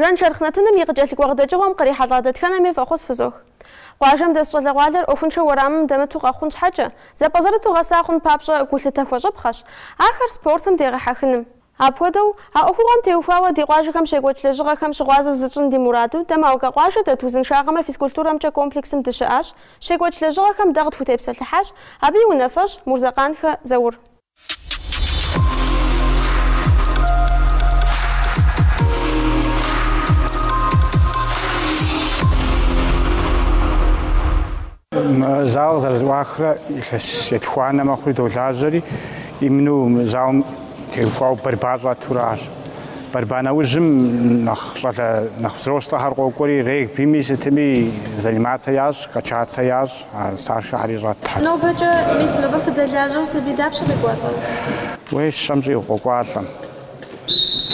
Жан шэрхъ нэтыным и къыкӏэлъыкӏуэ къыдэкӏыгъуэм кърихьэлӏа дэтхэнэми фӏэхъус фызох. Къуажэм дэс щӏалэгъуалэр ӏуэхуншэу уэрамым дэмыту къэхъун щхьэкӏэ, зэпӏэзэрыту гъэса хъун папщӏэ гулъытэ хуэщӏыпхъэщ ахэр спортым дегъэхьэхыным. Апхуэдэу, а ӏуэхугъуэм теухуауэ ди къуажэхэм щекӏуэкӏ лэжьыгъэхэм щыгъуазэ зытщӏын ди мураду, дэ Малкэ къуажэ дэт узыншагъэмрэ физкультурэмкӏэ комплексым дыщыӏащ, щекӏуэкӏ лэжьыгъэхэм дэ къытхутепсэлъыхьащ, абы и унафэщӏ, Мурзэкъанхэ Заур. Мы зал къызэрызэӏуахрэ илъэс етхуанэ мэхъури долажьэри, именно мы залым теухуау борьба щӏэтуращ. Борьба нэужьым нэхъ щӏалэ, нэхъ взрослэхэр къокӏуэри, регбими, сытми заниматься ящӏ, качаться ящӏ. Старшэхэри щӏэт. Нобэкӏэ, мис мыбы фыдэлажьэу сабий дапщэ къекӏуалӏэр? Уей, щэм щӏигъу къокӏуалӏэм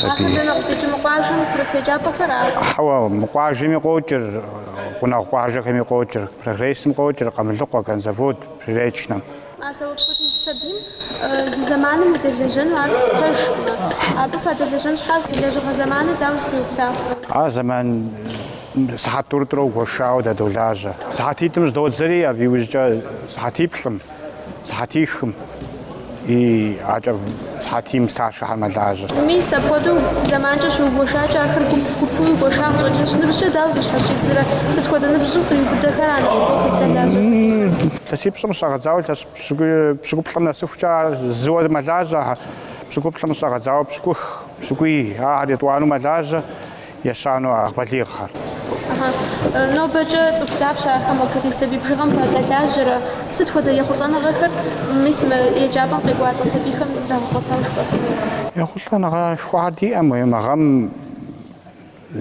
сабий. Ахэр дэнэ къыщӏэкӏ, мы къуажэм курыт еджапӏэхэра? Хьэуэ, мы къуажэми къокӏыр, гъунэгъу къуажэхэми къокӏыр, Прогрессым къокӏыр, Къамылыкъуэ, Конзавод, Приречнэм. А зэуэ апхуэдиз сабийм зы зэманым удэлэжьэну ар пэжкъымэ, абы фадэлэжьэн щхьа фи лэжьыгъэ зэманыр дауэ зэтеубла? Ар зэман сыхьэт тӏурытӏурэ гуэшауэ дадолажьэ. Сыхьэтитӏым щӏыдодзэри, абы иужькӏэ сыхьэтиплӏым, сыхьэтихым и акӏэ. Сыхьэтийм старшэхэр мэлажьэ. Мис апхуэдэу зэманкӏэ щыугуэшакӏэ, ахэр гуп-гупуи гуэша къыщӏэкӏынщ. Ныбжькӏэ дауэ зыщхьэщидзрэ? Сыт хуэдэ ныбжьым къриубыдэхэр а нэхъыбэу фыздэлажьэр? Илъэсипщӏым щӏэгъэдзауэ илъэс пщыкӏуплӏым нэсыхукӏэ ар зыуэ мэлажьэ. Пщыкӏуплӏым щӏэгъэдзауэ пщыкӏух, пщыкӏуий, ахэр етӏуанэу мэлажьэ. Ещанэу ар балигъхэр. Ахьа. Нобэкӏэ цӏыху дапщэ ахэм апхуэдиз сабий бжыгъэм фадэлажьэрэ? Сыт хуэдэ ехъулӏэныгъэхэр, мис, мы еджапӏэм къекӏуалӏэ сабийхэм зрагъэгъуэтауэ жыпӏэфынур? Ехъулӏэныгъэшхуэхэр диӏэм, уей мы гъэм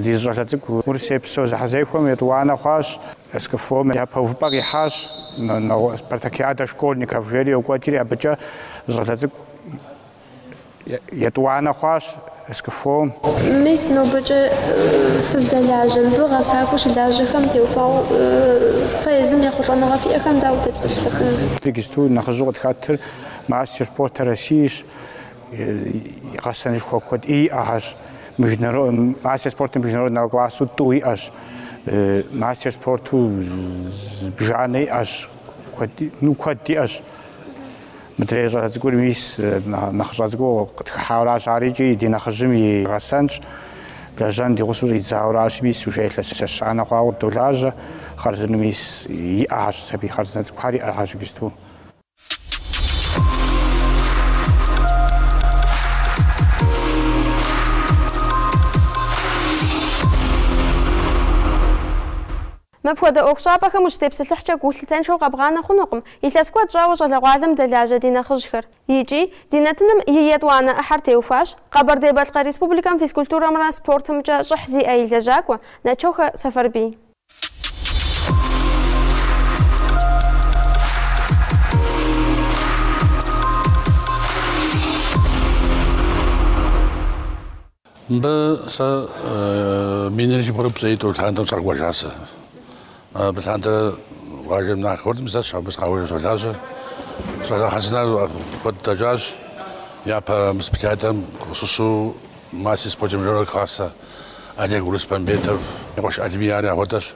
ди зы щӏалэ цӏыкӏу Урысей псо зэхьэзэхуэм етӏуанэ хъуащ, СКФО-м япэ увыпӏэ къихьащ, Спартакиадэ школьников жери йокӏуэкӏри, абыкӏэ зы щӏалэ цӏыкӏу Етӏуанэ хъуащ СКФО-м. Мис нобэкӏэ фыздэлажьэ, мыбы гъэсакӏуэу щылажьэхэм теухуауэ фэ езым ехъулӏэныгъэ фиӏэхэм дауэ утепсэлъыхьыфын? Тексту нэхъыжьу къытхэтыр мастер спорта Россиищ. Гъэсэнышхуэ куэд иӏэхэщ. Мастер спорта международного классу тӏу иӏэщ. Мастер спорту зыбжанэ иӏэщ. Ну, куэд иӏэщ. Мыдрей щӏалэ цӏыкӏур мис нэхъыщӏэ цӏыкӏуу къытхыхьауращ, ари икӏи ди нэхъыжьым и гъэсэнщ. Лэжьэн ди гъусэу щӏидзауращ, мис уже илъэс ещанэ хъуауэ долажьэ. Хъарзынэу мис иӏэхэщ сабий хъарзынэ цӏыкӏухэр, иӏэхэщ иджысту. Мыпхуэдэ ӏуэхущӏапӏэхэм ущытепсэлъыхькӏэ гу лъытэншэу къэбгъанэ хъунукъым илъэс куэд щӏауэ щӏалэгъуалэм дэлажьэ ди нэхъыжьхэр. Икӏи, ди нэтыным и етӏуанэ ӏыхьэр теухуащ Къэбэрдей-Балъкъэр Республикэм физкультурэмрэ спортымкӏэ щӏыхь зиӏэ и лэжьакӏуэ Начохэ Сэфэрбий. Мыбы сэ минрэ щибгъурэ пщӏей тӏу лъандэм сыкъэкӏуэжа сэ. Абы лъандэрэ къуажэм нахь хуэдым зэщ, абы сыкъаужэ солажьэ. Сэлахьэсына куэд дэкӏащ. Япэ мыспытядэм къыщыщу мастер спорта международного класса Олег Урыспамбетов, Къуэш Алими ари апхуэдэщ.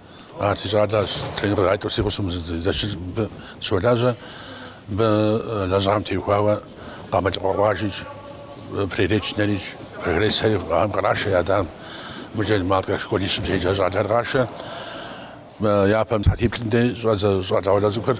Ар си щӏалэщ, тренер къыгъаитӏыр си гъусэм зэщылӏ мыбы щолажьэ. Мыбы лэжьыгъэм теухуауэ Къамылыкъуэ къуажи, Приречнэрикӏ, Прогресси ам кърашэ я адэм. Мыжэ Малкэ школищым щеджэ щӏалэр къашэ. Япэм сыхьэтиплӏым дей щӏэдзэ щӏалэгъуалэ цӏыкӏухэр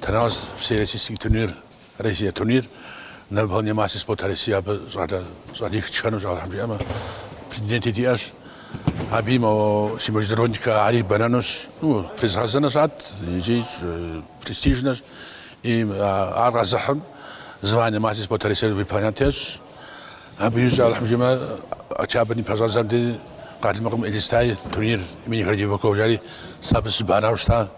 Тенос всероссийский турнир, Россия турнир, на выполнение мастера спорта России абы щӏалэ щӏалих тшэнущ Алыхьым жиӏэмэ, претенденти диӏэщ. Абы и мо- си международникэ ари бэнэнущ. Ну, тезыгъэзэнэ щӏат икӏи щӏ- престижнэщ. И а- ар къэзыхьым звание мастер спорта России выполнять ещӏ. Абы икӏи Алыхьым жиӏэмэ, октябрь и пэщӏэдзэм дей Къалмыкъым Элистай турнир имени Городовикова жари сэ абы сыбанэу щыта.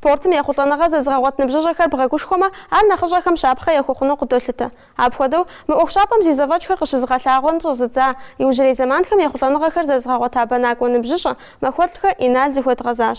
Спортым ехъулӏэныгъэ зэзыгъэгъуэт ныбжьыщӏэхэр бгъэгушхуэмэ, ар нэхъыщӏэхэм щапхъэ яхуэхъуну къыдолъытэ. Апхуэдэу, мы ӏуэхущӏапӏэм зи зэфӏэкӏхэр къыщызыгъэлъагъуэн щӏэзыдза, иужьрей зэманхэм ехъулӏэныгъэхэр зэзыгъэгъуэта бэнакӏуэ ныбжьыщӏэ, Махуэлӏхэ Инал зыхуэдгъэзащ.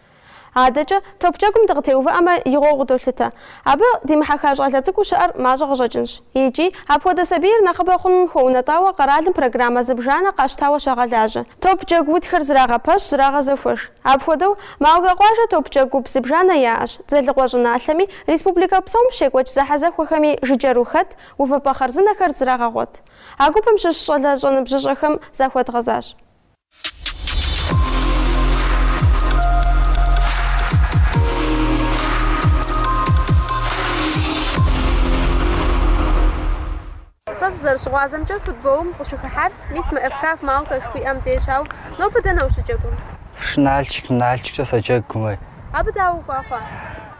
Адэкӏэ, топ джэгум дыкъытеувыӏэмэ, игъуэу къыдолъытэ. Абы димыхьэха щӏалэ цӏыкӏуу щыӏэр мащӏэ къыщӏэкӏынщ. Икӏи, апхуэдэ сабийр нэхъыбэ хъуным хуэунэтӏауэ къэралым программэ зыбжанэ къащтауэ щагъэлажьэ. Топ джэгу утхэр зрагъэпэщ, зрагъэзэхуэж. Апхуэдэу, Малкэ къуажэ топджэгу гуп зыбжанэ яӏэщ, Дзэлыкъуэ щӏыналъэми, республикэ псом щекӏуэкӏ зэхьэзэхуэхэми жыджэру хэт, увыпӏэ хъарзынэхэр зрагъэгъуэт. А гупым щыщ щӏалэщӏэ ныбжьыщӏэхэм захуэдгъэзащ. Сэ сызэрыщыгъуазэмкӏэ, футболым къыщыхыхьар мис мы ФКФ Малка жыхуиӏэм дежщ, ауэ нобэ дэнэ ущыджэгум? ФШ Нальчик, Нальчиккӏэ соджэгу мы. Абы дауэ укӏуа хъуа?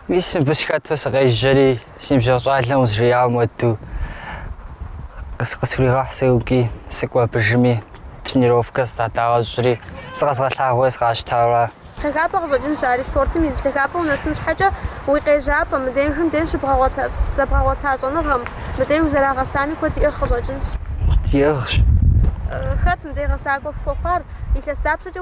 Мис мыбы сыхэту сыкъежьэри. Си ныбжьэгъу щӏалэм узжеяуэм уэду къысхуригъэхь сэ икӏи сыкӏуэ абы жыми, тренировкэ сыздагъэщӏри, зыкъэзгъэлъагъуэ сыкъащтауэ. Лъагапӏэ къыщӏэкӏынщ ари, спортым и зы лъагапӏэ унэсын щхьэкӏэ уи къежьапӏэм, мыдежым деж зэбгъэгъуэта щӏэныгъэм, мыдей узэрагъэсами куэд иӏыгъ къыщӏэкӏынщ. Иӏыгъщ. Хэт мыдей гъэсакӏуэ фхуэхъуар? Илъэс дапщэкӏэ?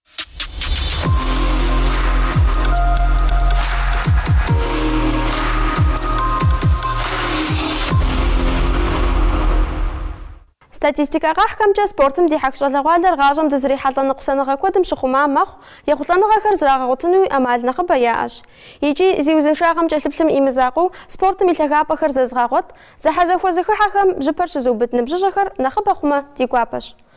Статистикэ къахьхэмкӏэ, спортым дихьэх щӏалэгъуалэр гъащӏэм дызрихьэлӏэ ныкъусаныгъэ куэдым щыхъума мэхъу, ехъулӏэныгъэхэр зрагъэгъуэтынуи ӏэмал нэхъыбэ яӏэщ. Икӏи, зи узыншагъэм кӏэлъыплъым и мызакъуэу, спортым и лъагапӏэхэр зэзыгъэгъуэт, зэхьэзэхуэ зэхыхьэхэм бжьыпэр щызыубыд ныбжьыщӏэхэр нэхъыбэ хъумэ, ди гуапэщ.